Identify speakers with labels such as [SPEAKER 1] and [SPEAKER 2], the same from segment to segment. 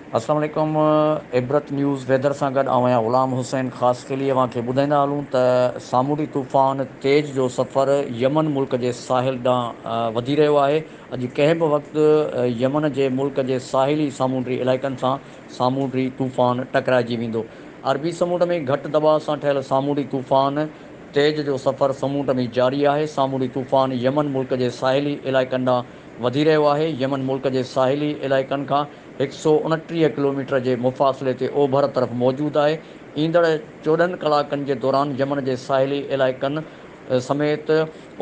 [SPEAKER 1] السلام عليڪم Ibrat news weather سان گڏ آئون آهيان غلام حسين خاصخيلي اوهان کي ٻڌائيندا هلون ته سامونڊي طوفان تيج جو سفر يمن ملڪ جي ساحل ڏانهن وڌي رهيو آهي اڄ ڪنهن به وقت يمن جي ملڪ جي ساحلي سامونڊي علائقن سان سامونڊي طوفان ٽڪرائجي ويندو. عربي سمنڊ ۾ گهٽ دٻاء سان ٺهيل سامونڊي طوفان تيج جو سفر سمنڊ ۾ جاري آهي. سامونڊي طوفان يمن ملڪ جي ساحلي علائقن ڏانهن وڌي رهيو آهي. يمن ملڪ جي ساحلي علائقن کان هڪ سؤ اڻٽيهه ڪلوميٽر جي مفاصلي تي اوڀر طرف موجود آهي. ايندڙ چوڏهن ڪلاڪن جي دوران يمن جي ساحلي علائقن سميت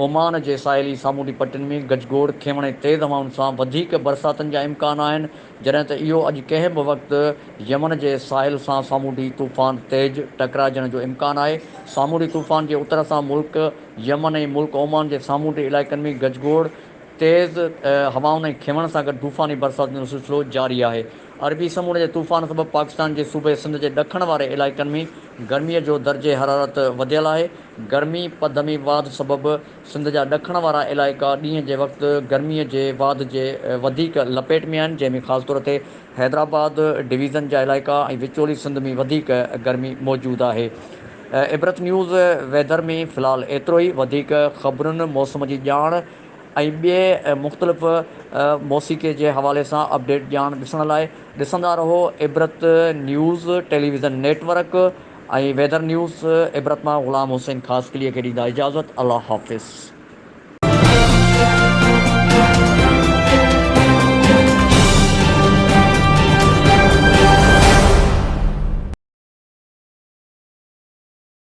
[SPEAKER 1] اومان جي ساحلي سامونڊي پٽين ۾ گجگوڙ، کينوڻي تيز هوائن سان وڌيڪ برساتن جا امڪان آهن. جڏهن ته اهو اڄ ڪنهن به وقت يمن جي ساحل سان سامونڊي طوفان تيج ٽڪرائجڻ جو امڪان آهي. سامونڊي طوفان جي اتر سان ملڪ يمن ۽ ملڪ اومان جي سامونڊي علائقن ۾ گجگوڙ، تيز هوائن ۽ کينوڻ سان گڏ طوفاني برسات جو سلسلو جاري آهي. عربي سمونڊ جي طوفان سبب پاڪستان جي صوبي سنڌ جي ڏکڻ واري علائقن ۾ گرمي جو درجه حرارت وڌيل آهي. گرمي پدمي واڌ سبب سنڌ جا ڏکڻ وارا علائقا ڏينهن جي وقت گرمي جي واڌ جي وڌيڪ لپيٽ ۾ آهن، جنهن ۾ خاص طور تي حيدرآباد ڊويزن جا علائقا ۽ وچولي سنڌ ۾ وڌيڪ گرمي موجود آهي. عبرت نيوز ويدر ۾ في الحال ايترو ئي، وڌيڪ خبرن، موسم جي ڄاڻ ۽ ٻئي مختلف موسيقي جي حوالي سان اپڊيٽ ڄاڻ ڏسڻ لاء ڏسندا رهو Ibrat news television network. ۽ Weather news Ibrat مان غلام حسين خاصخيليء کي ڏيندا اجازت الله حافظ.